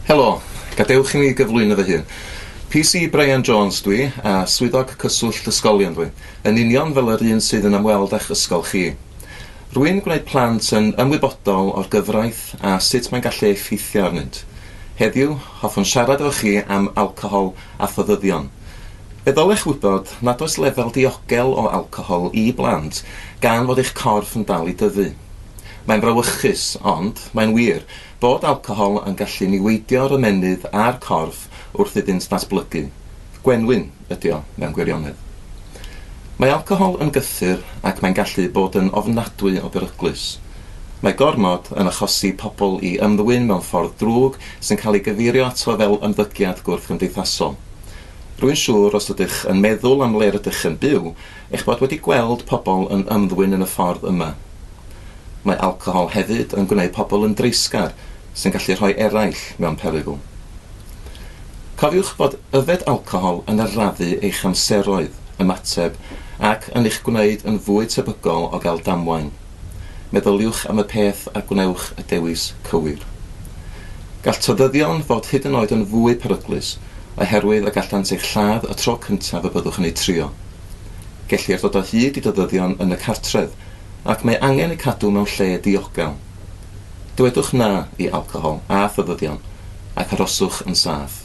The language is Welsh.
Helo, gadewch i mi gyflwyno fy hun. PC Brian Jones dwi, a Swyddog Cyswllt Ysgolion dwi, yn union fel yr un sydd yn ymweld â'ch ysgol chi. Rwy'n gwneud plant yn ymwybodol o'r gyfraith a sut mae'n gallu effeithio arnynt. Heddiw, hoffwn siarad efo chi am alcohol a phoddyddion. Fe ddylech wybod nad oes lefel diogel o alcohol i blant gan fod eich corff yn dal i dyfu. Mae'n frawychus, ond mae'n wir, bod alcohol yn gallu niweidio'r ymennydd a'r corff wrth iddynt ddatblygu. Gwenwyn ydy o, mewn gwirionedd. Mae alcohol yn gythyr ac mae'n gallu bod yn ofnadwy o beryglus. Mae gormod yn achosi pobl i ymddwyn mewn ffordd drwg sy'n cael ei gyfeirio ato fel ymddygiad gwrthgymdeithasol. Rwy'n siŵr os ydych yn meddwl am le rydych yn byw, eich bod wedi gweld pobl yn ymddwyn yn y ffordd yma. Mae alcohol hefyd yn gwneud pobl yn dreisgar, sy'n gallu rhoi eraill mewn perygl. Cofiwch bod yfed alcohol yn arafu eich amseroedd ymateb ac yn eich gwneud yn fwy tebygol o gael damwain. Meddyliwch am y peth a gwnewch y dewis cywir. Gall todyddion fod hyd yn oed yn fwy peryglus oherwydd y gallant eich lladd y tro cyntaf y byddwch yn eu trio. Gellir dod o hyd i dodyddion yn y cartref ac mae angen eu cadw mewn lle diogel. Dywedwch 'na' i alcohol a thybyddion ac aroswch yn saff.